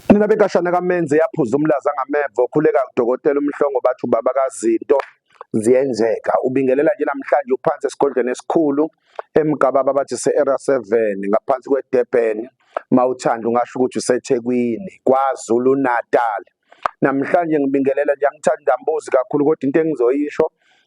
Nina bekashana kamenze yaphuza umlaza ngameva okhuleka udokotela umhlongo bathi ubaba kazinto ziyenzeka ubingelela nje namhlanje uphansi esigodlweni esikhulu emgababa bathi se-era 7 ngaphansi kwedurban mawuthanda ungasho ukuthi usethekwini kwazulu natal namhlanje ngibingelela nje angithandi ngambuzi kakhulu kodwa into engizoyisho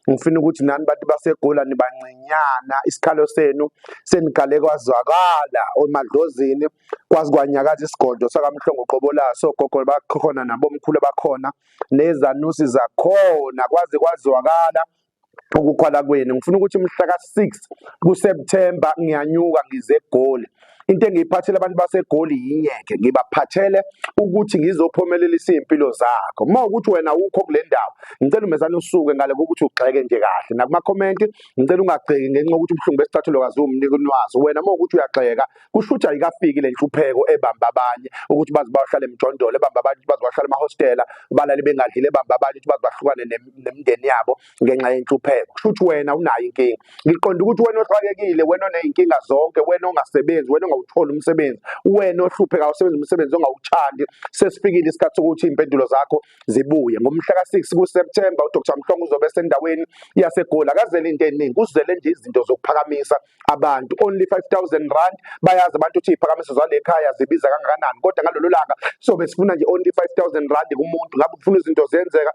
ngifuna ukuthi nani bantu basegola nibancinyana isikhalo senu senikale kwazwakala omadlozini kwazi kwanyakaza isigodlo sakamhlongo qobolaso gogo bakhona nabomkhulu bakhona nezanusi zakhona kwaze kwazwakala ukukhwala kwenu ngifuna ukuthi mhla ka-6 kuSeptember ngiyanyuka ngize eGoli into engiyiphathele abantu basegoli yingeke ngibaphathele ukuthi ngizophumelelisa izimpilo zakho uma ukuthi wena ukho kule ndawo ngicela umezane usuke ngale kokuthi ugxeke nje kahle nakuma comment ngicela ungagxeki ngenxa ukuthi ubuhlungu besicathulo kazi umnika unwazi wena uma ukuthi uyagxeka kusho ukuthi ayikafiki le nhlupheko ebamba abanye ukuthi bazi bayohlala emjondolo ebamba abanye ukuthi bazi bahlala emahostela balale bengadlile ebamba abanye ukuthi bazi bahlukane nemndeni yabo ngenxa yenhlupheko kusho ukuthi wena unayo inkinga ngiqonda ukuthi wena oxakekile wena oney'nkinga zonke wena ongasebenzi wena ongawutholi umsebenzi wena ohlupheka usebenza umsebenzi ongawuthandi sesifikile isikhathi sokuthi iy'mpendulo zakho zibuye ngomhla ka-six kuseptemba udr mhlongo uzobe esendaweni yasegoli akazele into eningi kuzele nje izinto zokuphakamisa abantu only 5000 rand bayazi abantu ukuthi iy'phakamiso zale khaya zibiza kangakanani kodwa ngalolo langa sobe sifuna nje only 5000 rand kumuntu ngabe ufuna izinto zenzeka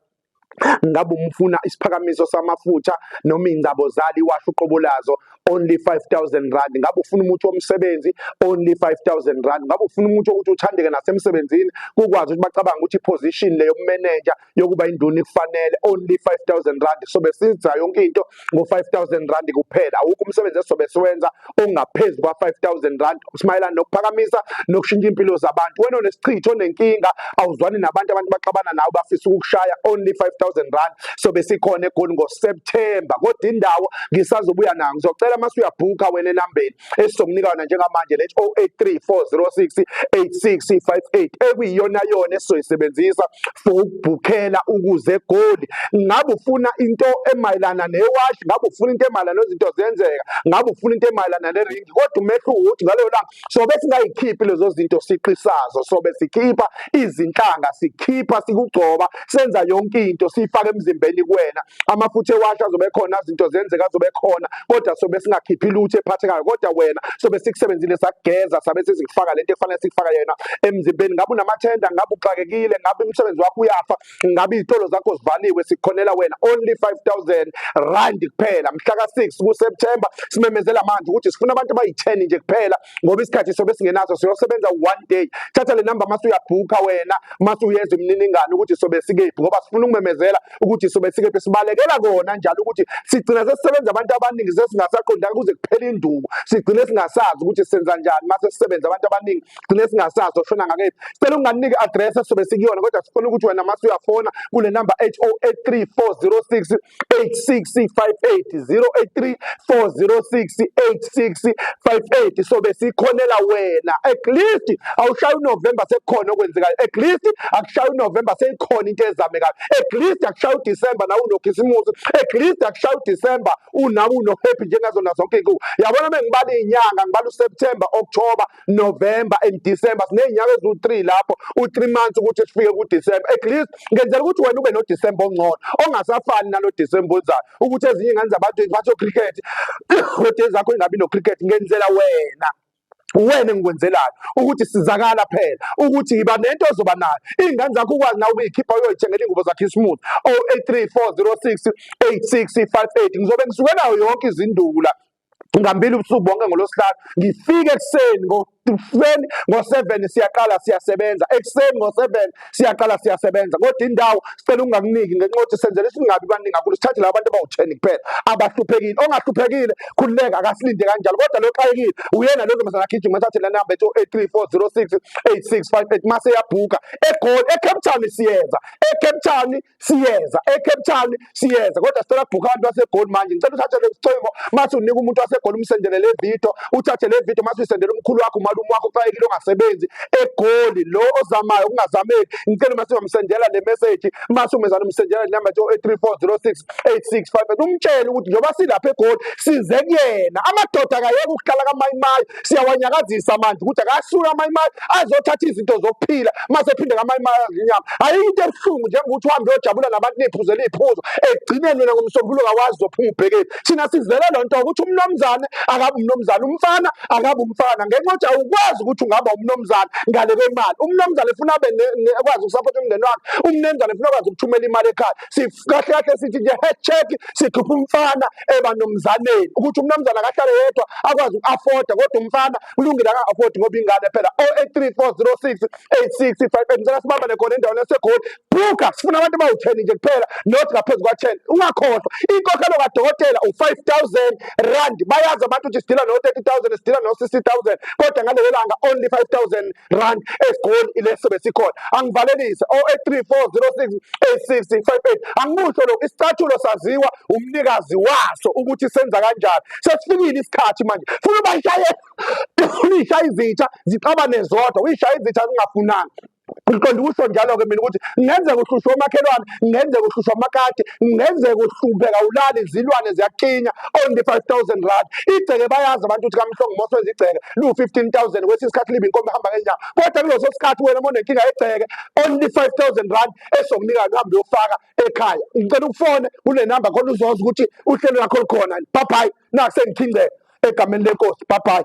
ngabe umfuna isiphakamiso samafutha noma ingcabo zali washo uqobo lazo only 5000 rand ngabe ufuna umuthi womsebenzi only 5000 rand ngabe ufuna umuthi ukuthi uthandeke nasemsebenzini kukwazi ukuthi bacabanga ukuthi position leyo manager yokuba induna ifanele only 5000 rand so besiza yonke into ngo-5000 rand kuphela awukho umsebenzi esizobe siwenza ongaphezu kwa-5000 rand simayelana nokuphakamisa nokushintsha impilo zabantu wena onesichitho onenkinga awuzwani nabantu abantu baxabana nawe bafisa ukukushaya only 5000 rand sobe sikhona egoli ngoseptemba kodwa indawo ngisazobuya nayo ngizocela uma suyabhukha wena enambeni esizomnika yona njengamanje le 0834068658 ekuyiyona yona esizoyisebenzisa for ukubhukhela ukuze egoli ngabe ufuna into emayelana newashi ngabe ufuna into emayelana nezinto zenzeka ngabe ufuna into emayelana neringi kodwa umehluko ukuthi ngaleyo langa sobe singayikhiphi lezo zinto siqisazo sobe sikhipha izinhlanga sikhipha sikugcoba senza yonke into siyifaka emzimbeni kuwena amafutha ewasha azobe khona izinto zenzeka azobe khona kodwa sobe singakhiphi lutho ephathekayo kodwa wena sobe sikusebenzile sakugeza sabe sizikufaka lento efanele sikufaka yena emzimbeni ngabe unamathenda ngabe uxakekile ngabe umsebenzi wakho uyafa ngabe izitolo zakho zivaliwe sikhonela wena only 5000 rand kuphela mhla ka 6 ku September simemezela manje ukuthi sifuna abantu abayi 10 nje kuphela ngoba isikhathi sobe singenaso siyosebenza one day thatha le number mase uyabhukha wena mase uyeza imininingane ukuthi sobe sikephi ngoba sifuna ukumemezela ukuthi sobe sikephi sibalekela kona njalo ukuthi sigcina sesisebenza abantu abaningi sesingasaqondanga kuze kuphele induku sigcine singasazi ukuthi senza njani mase sisebenza abantu abaningi sigcine singasazi oshona ngakephi sicela unganike address sobe sikuyona kodwa sifuna ukuthi wena mase uyafona kule number 8083406 8658 so besikhonela wena at least awushaya unovemba sekukhona okwenzekayo at least akushaya unovemba seyikhona into ezamekayo at least akushaya udisemba nawe unokhisimusi at least akushaya udisemba unawe unohappy njengazona zonke iy'nkuku yabona uma ngibala iy'nyanga ngibala useptemba october November and December sinezinyanga eziwu-3 lapho u-3 months ukuthi sifike ku-December at least ngenzela ukuthi wena ube no-December ongcono ongasafani nalo December ozayo ukuthi ezinye ingane zabantu bathi cricket kodwa zakho ingabi no-cricket ngenzela wena wena engikwenzelayo ukuthi sizakala phela ukuthi yiba nento ozoba nayo iy'ngane zakho ukwazi nawe ukuyikhipha uyoyithengela iy'ngubo zakhe ismooth o-eight three four zero six eight six five eight ngizobe ngisuke nayo yonke izindula ngambili ubusuku bonke ngolosihlanu ngifike ekuseni ngokuseni ngo-seven siyaqala siyasebenza ekuseni ngo-seven siyaqala siyasebenza kodwa indawo sicela ungakuniki ngenxa yokuthi senzela isingabi baningi kakhulu sithathe laba bantu abawu-ten kuphela abahluphekile ongahluphekile khululeka akasilinde kanjalo kodwa lo xakekile uyena lo ntombazana agijima athathe la namba ethi o-eight three four zero six eight six five eight mase yabhuka egoli ecape town siyenza ecape town siyeza eCape Town siyeza kodwa sicela kubhukha abantu baseGoli manje ngicela uthathe lesicingo mase unika umuntu waseGoli umsendele le video uthathe le video mase usendele umkhulu wakho umalume wakho uxakekile ongasebenzi eGoli lo ozamayo kungazameki ngicela mase ungamsendela le message mase umezana umsendela inamba nje 0834068658 umtshele ukuthi njengoba silapha eGoli size kuyena amadoda akayeke ukuhlala kamayimayi siyawanyakazisa manje ukuthi akasuke amayimali azothatha izinto zokuphila mase phinde ngamayimali azinyama ayikho into ebuhlungu njengokuthi uhambe uyojabula nabantu niphuzela iy'phuzo ekugcineni wena ngomsombululo kawazi uzophuma ubhekeni thina sizele loo nto ukuthi umnomzane akabe umnomzane umfana akabe umfana ngenxa yokuthi awukwazi ukuthi ungaba umnomzane ngale kwemali umnomzane funa abe kwazi ukusapotha umndeni wakhe umnemzane funa kwazi ukuthumela imali ekhaya kahle kahle sithi nje head check sikhipha umfana eba nomzaneni ukuthi umnamzana akahlale yedwa akwazi uku-afforda kodwa umfana kulungile aka-afford ngoba ingane phela 083406 8658 ngicela sibambane khona endaweni yasegoli bhuka sifuna abantu abawu-10 nje kuphela not ngaphezu kwa-10 ungakhohlwa inkokhelo kadokotela u-5000 rand bayazi abantu ukuthi sidila no-30000 sidila no-60000 kodwa ngalelo langa only 5000 rand egoli ileso besikhona angivalelise 0834068658 angimusho lokho isicathulo saziwa umnikazi waso ukuthi senza kanjani sesifikile isikhathi manje funa ubashaye uyishaye izitsha zixabane zodwa uyishaye izitsha zingafunani ngiqonda ukusho njalo-ke mina ukuthi kungenzeka uhlushwe umakhelwane kungenzeka uhlushwa amakati kungenzeka uhlupheka ulali izilwane ziyakinya only 5000 rand igceke bayazi abantu ukuthi kamhlongo moso wenza igceke liwu-15000 kwesinye isikhathi libe inkomo ehamba ngenyawo kodwa kuleso sikhathi wena uma unenkinga yegceke only 5000 rand esokunika uhambe uyofaka ekhaya ngicela ukufone kule namba khona uzoza ukuthi uhlelo lakho lukhona bye nakusengithingceke egameni lenkosi bye